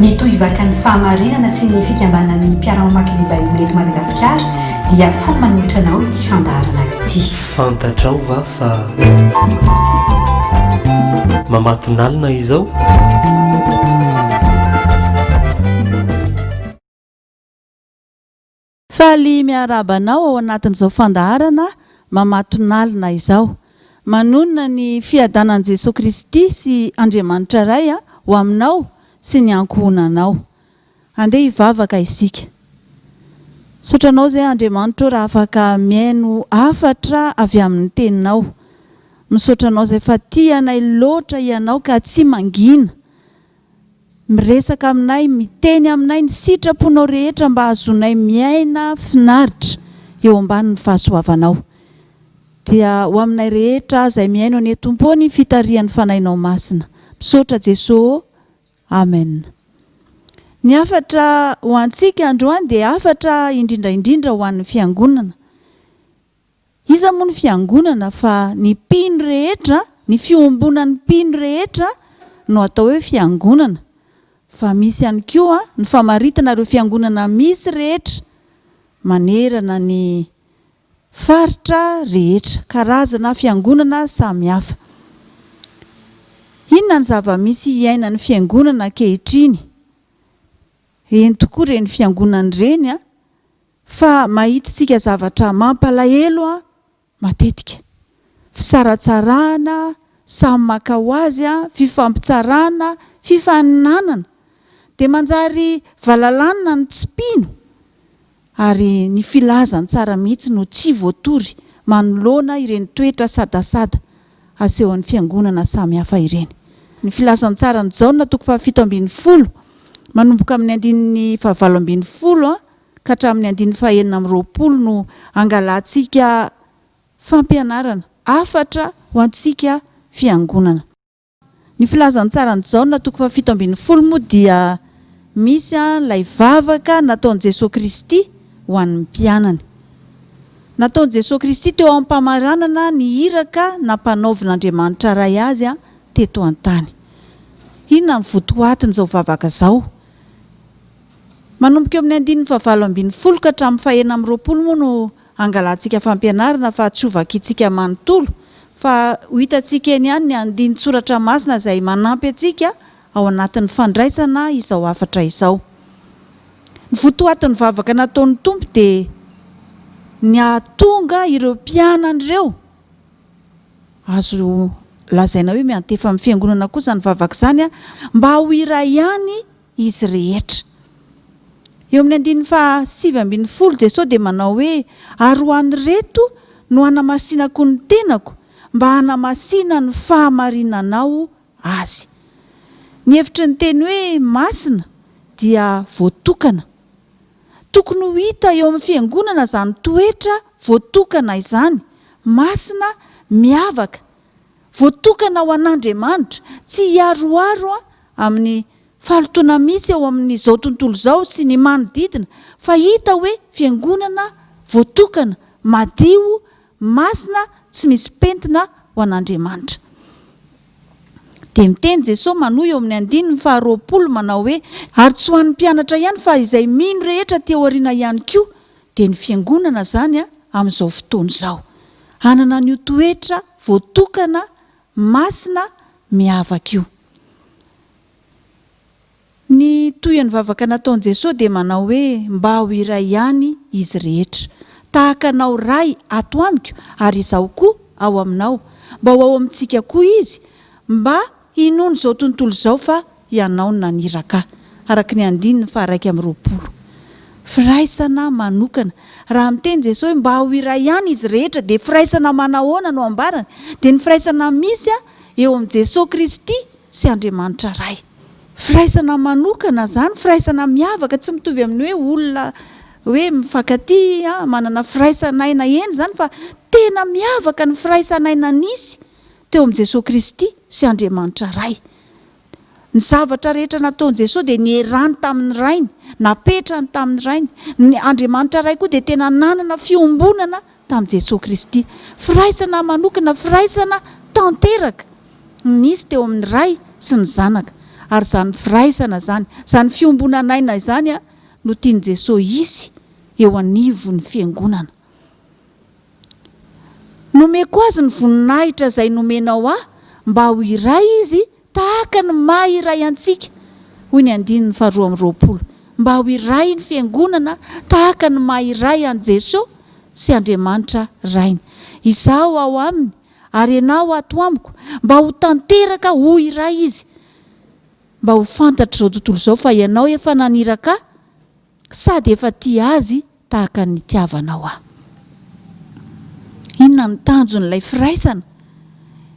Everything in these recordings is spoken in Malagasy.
Mitohy vaka ny fahamarinana sy ny fikambanan'ny mpiara-mamaky ny Baiboly eto Madagasikara dia faly manolotra anao ity fandaharana ity. Fantatrao va fa mamatonalina izao? Faly miarahaba anao ao anatin'izao fandaharana mamatonalina izao. Manonona ny fiadanan'i Jesoa Kristy sy Andriamanitra Ray ho aminao sy ny ankohonanao. Andeha hivavaka isika. Misaotra Anao izay Andriamanitra ô raha afaka mihaino hafatra avy amin'ny Teninao. Misaotra Anao izay fa tia anay loatra Ianao ka tsy mangina. Miresaka aminay, miteny aminay ny sitraponao rehetra mba hahazoanay miaina finaritra eo ambanin'ny fahasoavanao. Dia ho aminay rehetra izay mihaino anie Tompo ô ny fitarihan'ny Fanahinao Masina. Misaotra Jeso ô. Amen. Ny hafatra ho antsika androany dia hafatra indrindra indrindra ho an'ny Fiangonana. Iza moa ny fiangonana fa ny mpino rehetra, ny fiombonan'ny mpino rehetra no atao hoe fiangonana, fa misy ihany koa ny famaritana ireo fiangonana misy rehetra manerana ny faritra rehetra, karazana fiangonana samy hafa. Inona ny zava-misy iainan'ny fiangonana ankehitriny? Ireny tokoa ireny fiangonana ireny an! Fa mahitintsika zavatra mampalahelo an matetika. Fisaratsarahana, samy maka ho azy an, fifampitsarana, fifaninanana. Dia manjary valalanina ny tsy mpino ary ny filaza ny tsara mihitsy no tsy voatory manoloana ireny toetra sadasada asehon'ny fiangonana samy hafa ireny. Ny filazantsaran'i Jaona toko fahafito ambin'ny folo manomboka amin'ny andininy fahavalo ambin'ny folo an, ka hatramin'ny andininy fahenina amby roapolo no hangalantsika fampianarana hafatra ho antsika fiangonana. Ny filazantsaran'i Jaona toko fahafito ambin'ny folo moa dia misy ilay vavaka nataon'i Jesoa Kristy ho an'ny mpianany. Nataon'i Jesoa Kristy teo am-pamaranana ny iraka nampanaovin'Andriamanitra Ray Azy teto an-tany. Inona no votoatin'izao vavaka izao? Manomboka eo amin'ny andininy fahavalo ambin'ny folo ka hatramin'ny fahenina amby roapolo moa no hangalantsika fampianarana fa tsy ho vakintsika manontolo fa ho hitantsika eny ihany ny andinin-tsoratra masina izay manampy antsika ao anatin'ny fandraisana izao hafatra izao. Ny votoatin'ny vavaka nataon'ny Tompo dia ny hahatonga ireo mpianany ireo azo lazaina hoe miantefa amin'ny fiangonana kosa ny vavaka izany mba ho iray ihany izy rehetra. Eo amin'ny andininy faha sivy ambin'ny folo, Jesosy dia manao hoe, Ary ho an'ireto no hanamasinako ny tenako, mba hanamasina ny fahamarinanao azy. Ny hevitry ny teny hoe masina dia voatokana. Tokony ho hita eo amin'ny fiangonana izany toetra voatokana izany, masina, miavaka, voatokana ho an'Andriamanitra, tsy hiaroaro amin'ny fahalotoana misy eo amin'izao tontolo izao sy ny manodidina, fa hita hoe fiangonana voatokana, madio, masina, tsy misy pentina ho an'Andriamanitra. Dia miteny Jesoa manohy eo amin'ny andininy faharoapolo manao hoe, Ary tsy ho an'ny mpianatra ihany fa izay mino rehetra aty aoriana ihany koa dia ny Fiangonana izany amin'izao fotoana izao. Hanana an'io toetra voatokana, masina, miavaka io. Ny tohin'ny vavaka nataon'i Jesoa dia manao hoe, Mba ho iray ihany izy rehetra. Tahaka Anao Ray ato amiko ary Izaho koa ao Aminao. Mba ho ao amintsika koa Izy, mba Hinono izao tontolo izao fa Hianao no naniraka ahy. Araka ny andininy faharaika amby roapolo. Firaisana manokana. Raha miteny Jesoa hoe mba ho iray ihany izy rehetra dia firaisana manahoana no ambarany? Dia ny firaisana misy eo amin'i Jesoa Kristy sy Andriamanitra Ray. Firaisana manokana izany, firaisana miavaka, tsy mitovy amin'ny hoe olona hoe mifankatia, manana firaisan'aina eny izany fa tena miavaka ny firaisan'aina nisy teo amin'i Jesoa Kristy sy Andriamanitra Ray. Ny zavatra rehetra nataon'i Jesoa dia nierany tamin'ny Rainy, napetrany tamin'ny Rainy. Ny Andriamanitra Ray koa dia tena nanana fiombonana tamin'i Jesoa Kristy. Firaisana manokana, firaisana tanteraka no nisy teo amin'ny Ray sy ny Zanaka. Ary izany firaisana izany, izany fiombonan'aina izany no tian'i Jesoa hisy eo anivon'ny Fiangonana. Nomeko azy ny voninahitra izay nomenao ahy mba ho iray izy tahaka ny maha iray antsika, hoy ny andininy faharoa amby roapolo, mba ho iray ny Fiangonana tahaka ny maha iray an'i Jeso sy Andriamanitra Rainy. Izaho ao Aminy ary Ianao ato amiko mba ho tanteraka ho iray izy, mba ho fantatr'izao tontolo izao fa Ianao efa naniraka ahy, Sady efa tia azy tahaka ny nitiavanao ahy. Inona ny tanjon'ilay firaisana?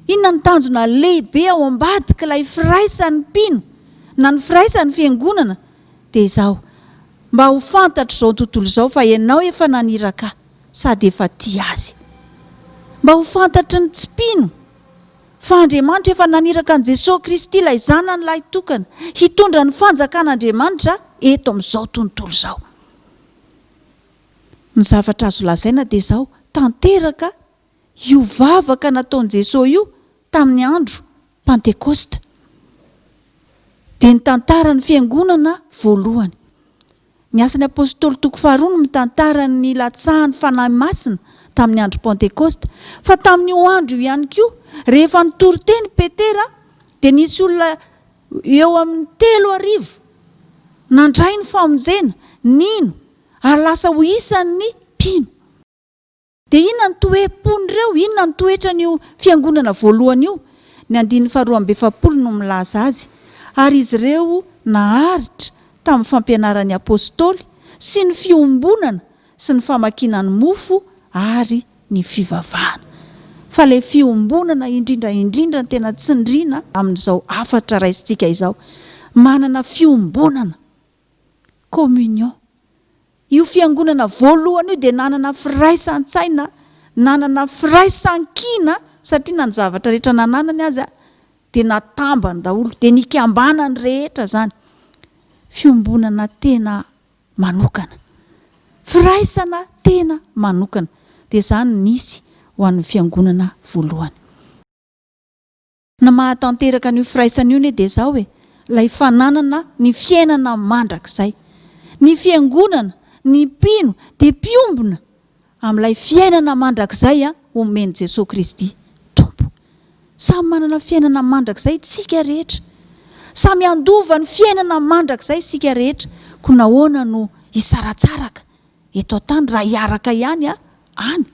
Inona ny tanjona lehibe ao ambadik'ilay firaisan'ny mpino na ny firaisan'ny fiangonana? Dia izao, mba ho fantatr'izao tontolo izao fa ianao efa naniraka ahy sady efa tia azy. Mba ho fantatry ny tsy mpino Fa Andriamanitra efa naniraka an'i Jesoa Kristy ilay Zanany lahitokana hitondra ny fanjakan'Andriamanitra eto amin'izao tontolo izao. Ny zavatra azo lazaina dia izao, tanteraka io vavaka nataon'i Jesoa io tamin'ny andro Pantekosta. Dia ny tantaran'ny Fiangonana voalohany. Ny Asan'ny Apôstôly toko faharoa no mitantara ny nilatsahan'ny Fanahy Masina tamin'ny andro Pantekôsta. Fa tamin'io andro io ihany koa, rehefa nitory teny i Petera, dia nisy olona eo amin'ny telo arivo nandray ny famonjena, nino, ary lasa ho isan'ny mpino. Dia inona ny toe-pon'ireo? Inona ny toetran'io fiangonana voalohany io? Ny andininy faharoa amby efapolo no milaza azy, Ary izy ireo naharitra tamin'ny fampianaran'ny apostoly, sy ny fiombonana, sy ny famakiana ny mofo, ary ny fivavahana. Fa ilay fiombonana indrindra indrindra no tena tsindriana amin'izao hafatra raisintsika izao. Manana fiombonana. Communion. Io fiangonana voalohany io dia nanana firaisan-tsaina, nanana firaisan-kina, satria na ny zavatra rehetra nananany aza dia natambany daholo, dia nikambanany rehetra izany. Fiombonana tena manokana. Firaisana tena manokana. Dia izany no nisy ho an'ny fiangonana voalohany. Ny maha tanteraka an'io firaisana io anie dia izao e, ilay fananana ny fiainana mandrakizay. Ny fiangonana, ny mpino dia mpiombona amin'ilay fiainana mandrakizay omen'i Jesoa Kristy Tompo. Samy manana fiainana mandrakizay tsika rehetra. Samy handova ny fiainana mandrakizay isika rehetra. Koa nahoana no hisaratsaraka eto an-tany raha hiaraka ihany any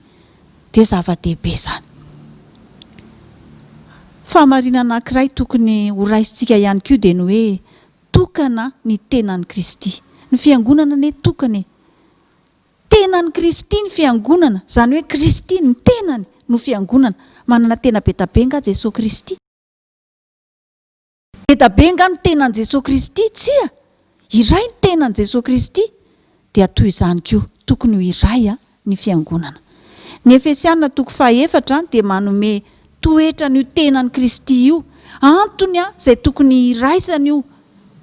dia zava-dehibe izany. Fahamarinana anankiray tokony horaisintsika ihany koa dia ny hoe tokana ny tenan'i Kristy. Ny Fiangonana anie tokana e! Tenan'i Kristy ny Fiangonana, izany hoe Kristy ny tenany no Fiangonana. Manana tena be dia be angaha Jesoa Kristy? Ngeda be nga ny tenan'i Jesoa Kristy? Tsia! Iray ny tenan'i Jesoa Kristy, dia toy izany koa tokony ho iray ny Fiangonana. Ny Efesiana toko fahaefatra dia manome toetra an'io tenan'i Kristy io, antony izay tokony hiraisana io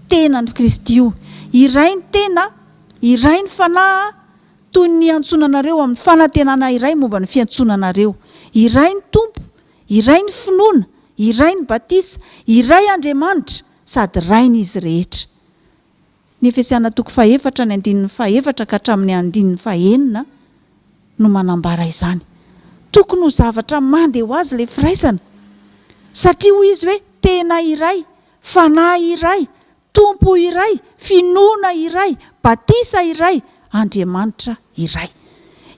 tenan'i Kristy io. Iray ny tena, iray ny fanahy toy ny iantsoana anareo amin'ny fanantenana iray momba ny fiantsoana anareo. Iray ny Tompo, Iray ny finoana, iray ny batisa, iray Andriamanitra sady Rain' izy rehetra. Ny Efesiana toko fahefatra ny andininy fahefatra ka hatramin' ny andininy fahenina no manambara izany. Tokony ho zavatra mande ho azy ilay firaisana, satria hoy izy hoe tena iray, fanahy iray, Tompo iray, finoana iray, batisa iray, Andriamanitra iray.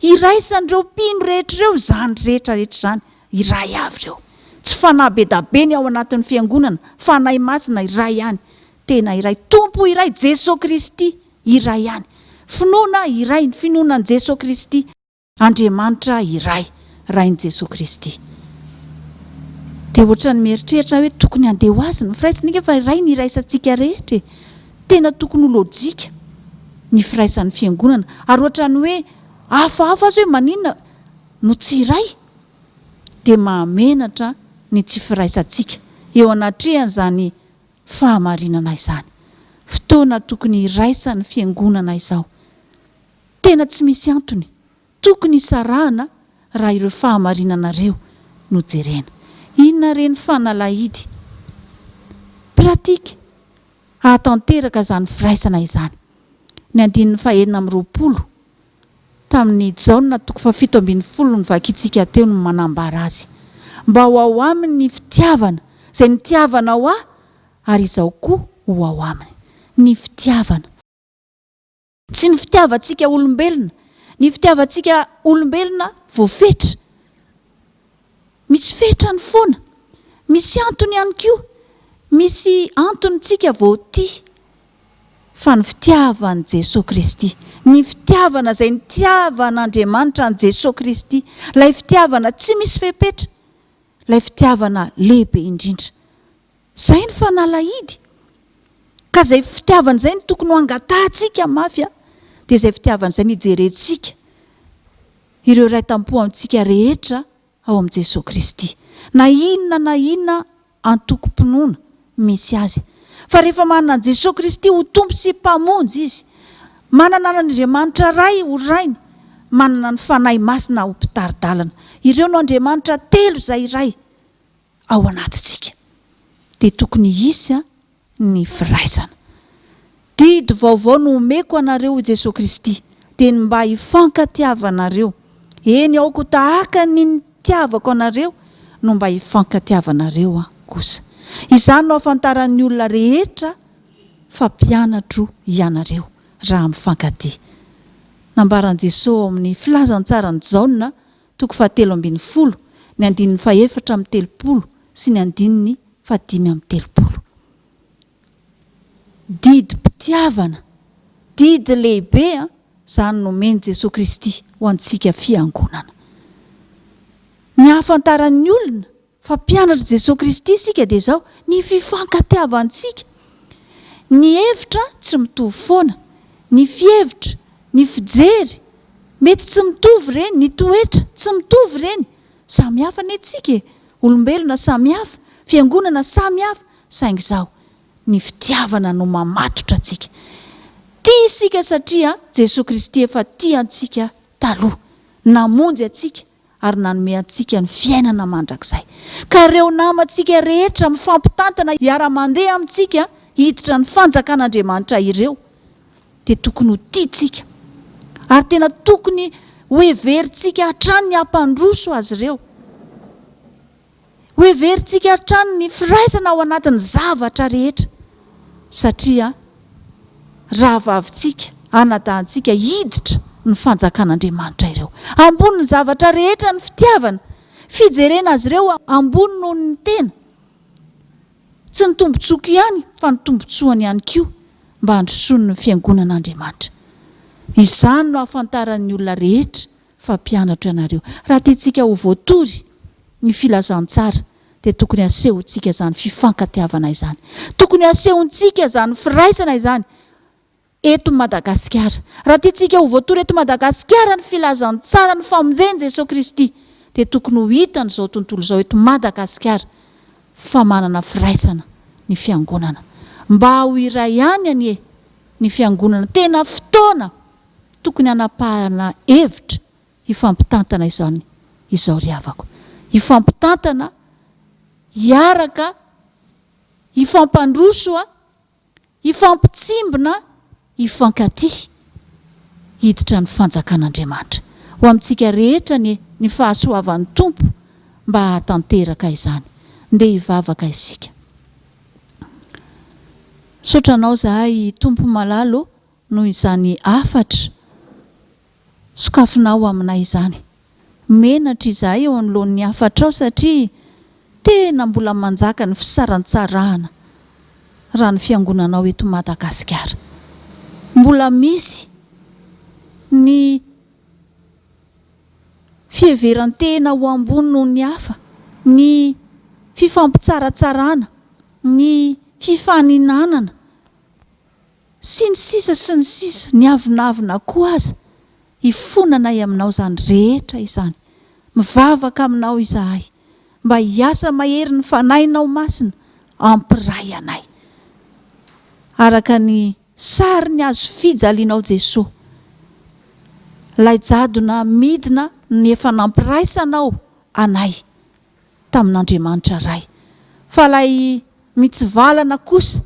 Iraisan'ireo mpino rehetra ireo izany rehetra rehetra izany, iray avy ireo. Tsy fanahy bedabe ny ao anatin'ny fiangonana, Fanahy Masina iray ihany, tena iray. Tompo iray, Jesoa Kristy iray ihany. Finoana iray, ny finoana an'i Jesoa Kristy. Andriamanitra iray, Rain'i Jesoa Kristy. Dia ohatran'ny mieritreritra aho hoe tokony handeha ho Azy ny firaisana, enga fa Rainy iraisantsika rehetra e! Tena tokony ho lojika ny firaisan'ny Fiangonana. Ary ohatran'ny hoe hafahafa aza hoe maninona no tsy iray? Dia mahamenatra ny tsy firaisantsika eo anatrehan'izany fahamarinana izany. Fotoana tokony hiraisan'ny Fiangonana izao. Tena tsy misy antony tokony hisarahana raha ireo fahamarinana ireo no jerena. Inona re ny fanalahidy pratique hahatanteraka izany firaisana izany? Ny andininy fahenina amby roapolo tamin'ny Jaona toko fahafito ambin'ny folo novakintsika teo no manambara azy. Mba ho ao aminy ny fitiavana, izay nitiavanao ahy, ary izaho koa ho ao aminy. Ny fitiavana. Tsy ny fitiavantsika olombelona. Ny fitiavantsika olombelona voafetra. Misy fetrany foana. Misy antony ihany koa. Misy antony tsika vao tia. Fa ny fitiavan'i Jesoa Kristy. Ny fitiavana izay nitiavan'Andriamanitra an'i Jesoa Kristy. Ilay fitiavana tsy misy fepetra. Ilay fitiavana lehibe indrindra. Izay ny fanalahidy. Ka izay fitiavana izay no tokony ho angatahantsika mafy an! Dia izay fitiavana izay no hijerentsika ireo iray tam-po amintsika rehetra ao amin'i Jesoa Kristy. Na inona na inona antokom-pinoana misy azy. Fa rehefa manana an'i Jesoa Kristy ho Tompo sy Mpamonjy izy, manana an'Andriamanitra Ray ho Rainy, manana ny Fanahy Masina ho Mpitari-dalana. Ireo no Andriamanitra telo izay iray. ao anatintsika dia tokony hisy ny firaisana. Didy vaovao no omeko anareo hoy Jesoa Kristy, dia ny mba hifankatiavanareo, eny aoko tahaka ny nitiavako anareo no mba hifankatiavanareo kosa. Izany no hahafantaran'ny olona rehetra fa mpianatro ianareo raha mifankatia. Nambaran'i Jesoa ao amin'ny Filazantsaran'i Jaona toko fahatelo ambin'ny folo, ny andininy fahefatra amby telopolo sy ny andininy fahadimy amby telopolo. Didim-pitiavana, didy lehibe an, izany nomen'i Jesoa Kristy ho antsika Fiangonana. Ny hahafantaran'ny olona Fa mpianatr'i Jesoa Kristy isika dia izao, ny fifankatiavantsika, ny hevitra tsy mitovy foana, ny fihevitra, ny fijery, mety tsy mitovy ireny, ny toetra, tsy mitovy ireny, samy hafa anie tsika e, olombelona samy hafa, fiangonana samy hafa, saingy izao, ny fitiavana no mamatotra antsika. Tia isika satria Jesoa Kristy efa tia antsika taloha, namonjy antsika, ary nanome antsika ny fiainana mandrakizay. Ka ireo namantsika rehetra mifampitantana hiara-mandeha amintsika hiditra ny Fanjakan'Andriamanitra ireo dia tokony ho tiantsika, ary tena tokony hoheverintsika hatrany ny hampandroso azy ireo. Hoheverintsika hatrany ny firaisana ao anatin'ny zavatra rehetra, satria rahavavintsika, anadahintsika hiditra ny Fanjakan'Andriamanitra ireo. Ambonin'ny zavatra rehetra ny fitiavana, fijerena azy ireo ambony noho ny tena, tsy ny tombontsoako ihany fa ny tombontsoany ihany koa, mba handrosoan'ny Fiangonan'Andriamanitra. Izany no ahafantaran'ny olona rehetra fa mpianatra ianareo. Raha tiantsika ho voatory ny filazantsara dia tokony hasehontsika izany fifankatiavana izany. Tokony hasehontsika izany firaisana izany eto Madagasikara. Raha tiantsika ho voatory eto Madagasikara ny filazantsaran'ny famonjen'i Jesoa Kristy dia tokony ho hitan'izao tontolo izao eto Madagasikara fa manana firaisana ny fiangonana. Mba ho iray ihany anie ny fiangonana. Tena fotoana. Tokony hanapahana hevitra hifampitantana izany izao ry havako. Hifampitantana, hiaraka, hifampandroso, hifampitsimbina, hifankatia. Hiditra ny fanjakan'Andriamanitra. Ho amintsika rehetra anie ny fahasoavan'ny Tompo mba hahatanteraka izany. Ndeha hivavaka isika. Misaotra Anao zahay Tompo malala ô. noho izany hafatra sokafinao aminay izany. Menatra izahay eo anoloan'ny hafatrao satria tena mbola manjaka ny fisarantsarahana raha ny fiangonanao eto Madagasikara. Mbola misy ny fiheverantena ho ambony noho ny hafa, ny fifampitsaratsarana, ny fifaninanana. Sy ny sisa sy ny sisa, ny avonavona koa aza, hifonanay aminao izany rehetra izany. Mivavaka aminao izahay, mba hiasa mahery ny Fanahinao Masina hampiray anay. Araka ny sarin'ny hazo fijalianao Jesoa, ilay jadona midina ny efa nampiraisanao anay. tamin'Andriamanitra Ray. Fa ilay mitsivalana kosa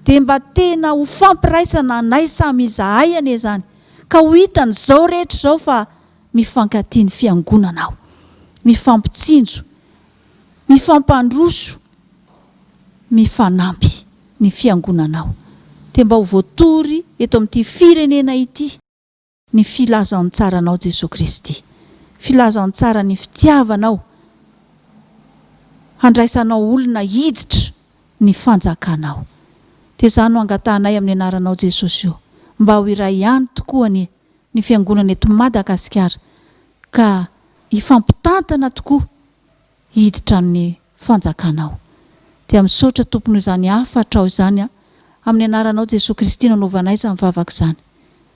dia mba tena ho fampiraisana anay samy izahay anie izany, ka ho hitan'izao rehetra izao fa mifankatia ny Fiangonana aho, mifampitsinjo, mifampandroso, mifanampy ny Fiangonana aho, dia mba ho voatory eto amin'ity firenena ity. ny filazantsaranao Jesoa Kristy, filazantsaran'ny fitiavanao handraisanao olona hiditra ny fanjakanao. Dia izany no angatahanay amin'ny anaranao Jesosy o, mba ho iray ihany tokoa anie ny fiangonana eto Madagasikara ka hifampitantana tokoa hiditra amin'ny fanjakanao. Dia misaotra Tompo noho izany hafatrao izany aho, amin'ny anaranao Jesoa Kristy no anaovanay izany vavaka izany.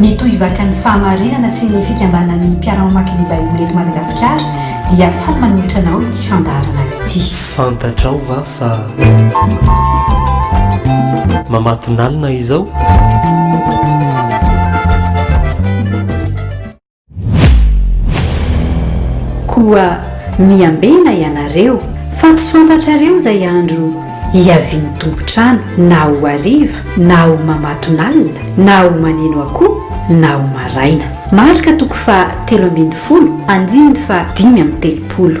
Ny tohivakan'ny fahamarinana sy ny fikambanan'ny mpiara-mamaky ny Baiboly eto Madagasikara dia faly manolotra anao ity fandaharana ity. Fantatrao va fa mamatonalina izao? Koa miambena ianareo, fa tsy fantatrareo izay andro hiavian'ny tompon-trano, na ho hariva, na ho mamatonalina, na ho maneno akoho, na ho maraina. Marka toko faha telo ambin'ny folo, andininy faha dimy amby telopolo.